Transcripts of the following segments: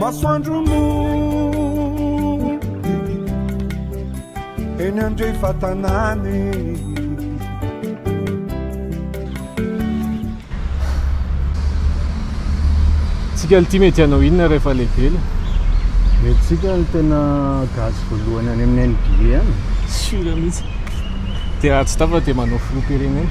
Masoandro no eny andrefatanany. Tsika ity mety hanao inona rehefa lehibe le? Mety tsika ny tena gasy voalohany any amin'ny NBA any. Sure mihitsy. Dia raha tsy tafa dia manao filoham-pirenena.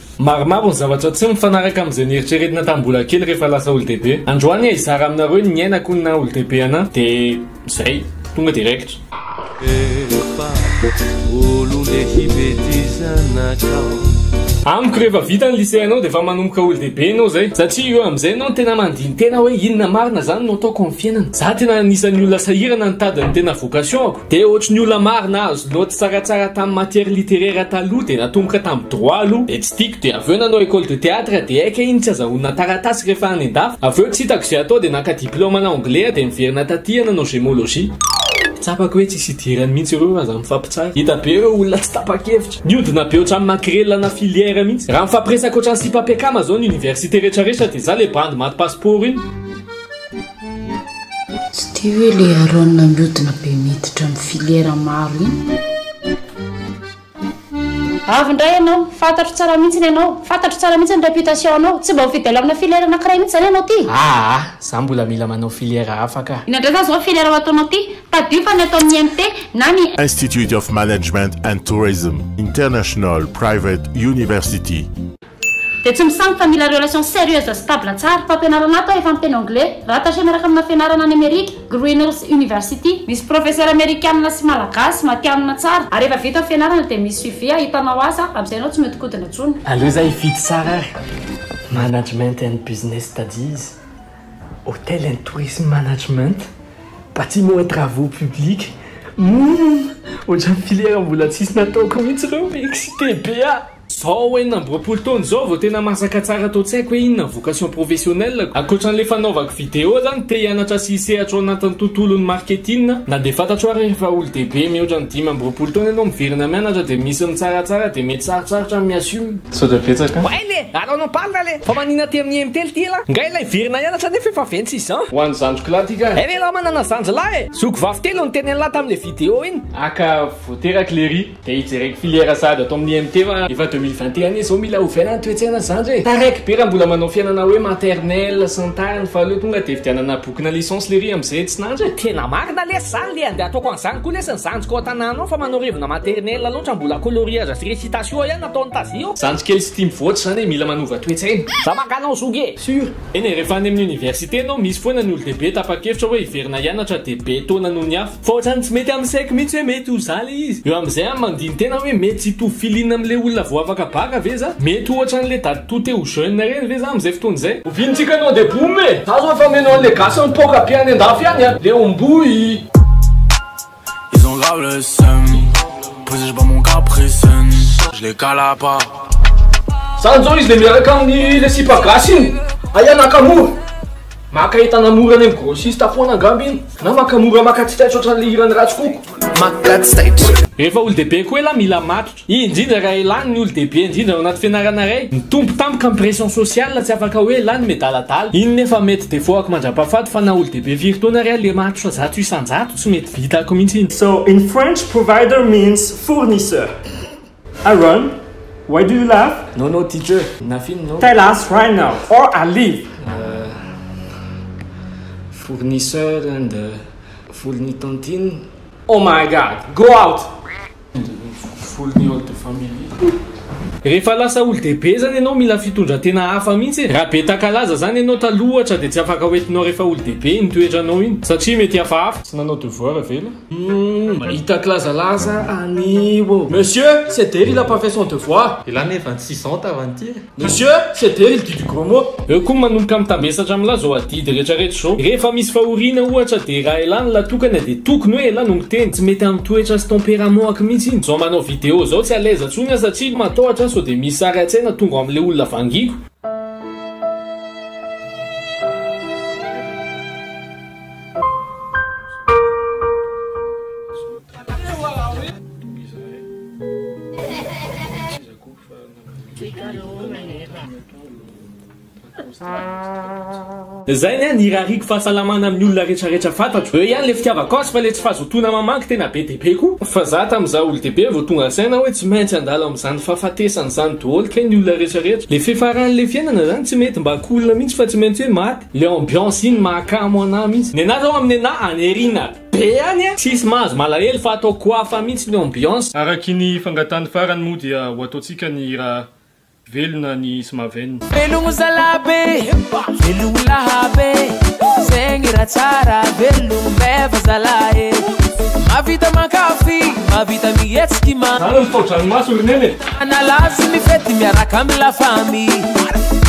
Maromaro ny zavatra tsy mifanaraka amin'izay nieritreretina tamin'ny mbola kely rehefa lasa olo-dehibe. Androany aho hizara aminareo ny niainako ny naha olo-dehibe anah dia izay, tonga dia raikitra. Efa olon-dehibe ty zanakao. Amiko rehefa vita ny lycée anao dia efa manomboka olo-dehibe enao izay satria eo amin'izay enao no tena mandini tena hoe inona marina izany no ataoko amin'ny fiainana. Za tena anisan'ny olona sahirana nitady ny tena vocation-ko. Dia ohatry ny olona maro nahazo note tsaratsara tamin'ny matière littéraire taloha dia natomboka tamin'ny droit aloha dia tsy tiako dia avy eo nanao école de théâtre dia aika iny tsy azahoana taratasy rehefa any an-dafy avy eo tsy hitako izay atao dia naka diplôme ana anglais aho dia niverina taty aho nanao gémologie. Tsapako hoe tsisy hidirany mihitsy ireo fa za mifampitsara. Hita be ireo olona tsy tapa-kevitra. Niodina be otrany makrela na filière mihitsy. Raha mifampiresaka otrany sipa mpiakama zao ny université retraretra dia za le bandy maty passeport iny. Tsy tia hoe le Aaron miodina be miditra am filière maro iny. Avy indray ianao, fantatro tsara mihitsy ny anao, fantatro tsara mihitsy ny réputation anao, tsy mba ho fidèle amina filière anakiray mihitsy zany ianao ty? Aa, za mbola mila manao filière hafa ka. Inona indray zany zao filière ho ataonao ty? Tadidio fa ny ataon'ny IMT na ny. Institute of Management and Tourism International Private University. Dia tsy misampy fa mila relation sérieuse stable tsara. Fampianarana ato aho efa miteny anglais, rattaché miaraka amina fianarana any Amerika, Greenhills University. Misy professeur amerikanina sy malagasy, matianina tsara. Ary rehefa vita ny fianarana dia misy suivi ahitanao asa, amin'izay ianao tsy mihodinkodina intsony. Aleo za hifidy tsara ary, Management and Business Studies, Hotel and Tourism Management, Bâtiments et Travaux Publics, humm! Ohatran'ny filière mbola tsisy nataoko mihitsy ireo, excité be aho. Zao enina amby roapolo taona izao vao tena masaka tsara tao tsy haiko hoe inona vocation professionnelle-ko. Ankoatran'ilay fanaovako vidéo zany, te hianatra sy hisehatra ao anatin'ny tontolon'ny marketing, na dia fantatro ary efa olo-dehibe mihoatra ny dimy amby roapolo taona ianao miverina mianatra dia misy ny mitsaratsara dia mety sarotsarotra ny mi-assume. Misaotra betsaka. Way le! Alao no palina le! Fa manina aty amin'ny Mtel ty elah? Nga elah hiverina hianatra nefa efa vingt-six ans. Ho an'ny zandriko lahy ty ka. Ery elah manana zandry lahy e! Zoky vavy telo niteny an'lah tamle vidéo iny. Aka voateraky lery. Dia hijereko filière sahady ato amin'ny IMT fa efa deux mille vingt et un izao mila ovaina ny toe-tsaina zandry e! Taraiky be raha mbola manao fiainana hoe maternelle sy ny tariny fa aleo tonga dia hividianana bokina licence lery amin'izay tsy nandry e! Tena marina lesy zany le andeha ataoko an'izany koa lesy ny zandriko ao an-tanàna ao fa manao revina maternelle loatra mbola coloriage sy récitation ihany ataony tazia ao. Zandry kely sy tia mivoatra zany e mila manova toe-tsaina. Za maka anao zoky e! Sûr! Eny e, rehefa any amin'ny université ianao misy foana ny olon-dehibe tapa-kevitra hoe hiverina hianatra dia be taona noho ny hafa. Fa ohatrany tsy mety amin'ny saiko mihitsy hoe mety ho za le izy. Eo amin'izay aho mandini-tena hoe mety tsy hitovy feeling amin'le olona vao afaka baka ve za? Mety ho ohatran'le daditoa te ho jeune ireny ve za amin'izay fotoana izay? Oviana tsika no ande boum e? Za zao efa mino an'le gasy mipoaka be any andafy any a! Le omboy! Ils ont grave le seum Posé je bats mon caprice Je les cala pas Zany zao izy le miaraka aminy le sipa gasy iny, aia nakamura. Maka entana mora any am grossiste foana angamba iny na maka mora maka tsy taitra ohatran'le hiran'i Ratsikoko. Maka tsy taitra. Rehefa olon-dehibe koa elah mila matotra, indrindra raha elah ny olon-dehibe indrindra ao anaty fianarana iray. Nitombo tampoka ny pression sociale tsy afaka hoe elah ny midaladala. Iny nefa mety defaut-ako mandrapahafaty fa na olon-dehibe firy taona ary aho le matotra zato isan-jato tsy mety vitako mihitsy iny. So in French provider means fournisseur. Aaron, why do you laugh? No no teacher, nothing no. Tell us right now or I leave! Fournisseur and fourni tantine. Oh my God, go out! Fourni all the family. Rehefa lasa olo-dehibe zany ianao mila fitondratena hafa mihitsy e! Raha be takalaza zany ianao taloha ohatra dia tsy afaka hoentinao rehefa olo-dehibe iny toetranao iny satria mety hafahafa. Tsy nanao devoir ve ilay. Hum, mahita kilazalaza anio ô. Monsieur, ceder il a pas fait son devoir. Ilana efa ny six ans tava an'ity e. Monsieur, ceder il dit du gros mot. Eo koa manomboka mitambesatra amin'la zao adidy rehetra rehetra zao. Rehefa misy fahoriana ohatra dia raha elah ny latokana dia tokony hoe elah no miteny. Tsy mety amin'ny toetra sy tempérament ako mihitsy iny. Zao manao vidéo zao tsy à l'aise ntsony aho satria matahotra aho sao dia misy sary an-tsaina tonga ao amin'ilay olona vangiako. Zay ny ahy ny irariako fahasalamana amin'ny olona retraretra fantatro. Eo ihany le fitiavako azy fa le tsy fahazotoana mamaky tena be dia be koa. Fa za tam za olo dehibe vao tonga saina hoe tsy maintsy andalo amzany fahafatesana zany doholy kay ny olona retraretra. Le fefarany le fiainana zany tsy mety mba ko olona mintsy fa tsy maintsy hoe maty. Le ambiance iny mahakamo anah mintsy. Nenareo amin'ny anah aneriana be any a! Tsisy mahazo malahelo fa atao koafa mintsy ny ambiance. Arakiny fangatany farany moa dia ho ataontsika ny hira velona ny Smaven. Velogno zalah be, velogno laha be, zegny raha tsara velogno meva zalah e, mahavita mankafy, mahavita mihetsiky ma. Zany ny tao-dranomaso ry neny e. Analavy ny fety miaraka amin'ny la famille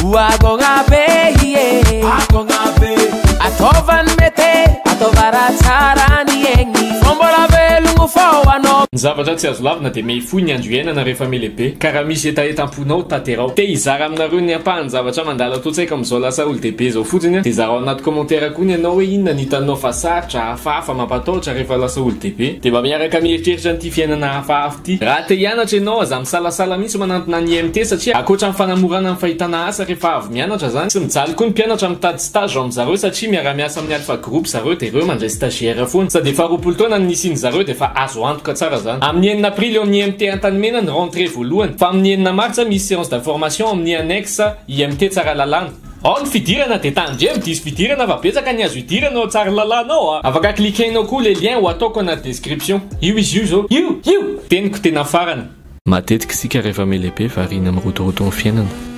Ho agogna be ie Agogna be Ataova ny mete Ataova raha tsara ny egny Fa mbola velogno fô anao Ny zavatra tsy azo lavina dia mehifohy ny andro iainana rehefa melehibe. Ka raha misy hetaheta am-ponao, tanterao. Te hizara aminareo ny ampahan-javatra mandalo ato an-tsaiko amin'izao lasa olo-dehibe izao fotsiny aho, dia zarao anaty commentaire koa ny anao hoe inona ny hitanao fa sarotra, hafahafa, mampatahotra rehefa lasa olo-dehibe. Dia mba miaraka mieritreritra an'ity fiainana hafahafa. Ty. Raha te hianatra ianao aza misalasala mihitsy manantona ny IMT satria ankoatra ny fanamorana ny fahitana asa rehefa avy mianatra zany, tsy mijaly koa ny mpianatra mitady stage ao amin'zareo satria miara-miasa amin'ny Alpha Group zareo dia ireo mandray stagiaire foana. Sady efa roapolo taona no nisian'zareo dia efa azo antoka tsara zany. Amin'ny enina aprily eo amin'ny IMT Antanimena ny rentrée voalohany fa amin'ny enina martsa misy séance d'information ao amin'ny annexe IMT Tsaralalàna. Ao ny fidirana de tandremo diso fidirana fa betsaka ny azo idirana ao Tsaralalana ao a! Afaka cliquenao koa le lien ho ataoko anaty description. Io izy io zao. Io! Io! Teniko tena farany. Matetika isika rehefa melehibe variana amin'ny rotoroton'ny fiainana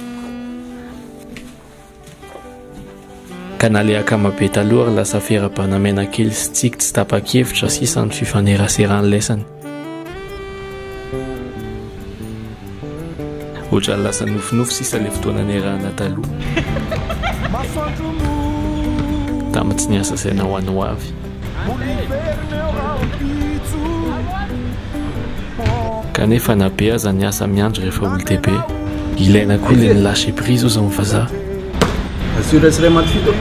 ka na le akama be taloha ary lasa fera-banamena kely sy tsiky tsy tapa-kevitra sisa ny fifaneraseran'ny lesany. Ohatrany lasa nofinofy sisa le fotoana niarahana taloha. Tamin'ny tsy niasa saina ho any ho avy. Kanefa na be aza ny asa miandry rehefa olon-dehibe. Ilaina koa le ny lâcher prise hozy amin'ny vazaha. Assure-se ray aman-tsy fito.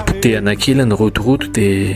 Potehana kely ny rotoroto dia.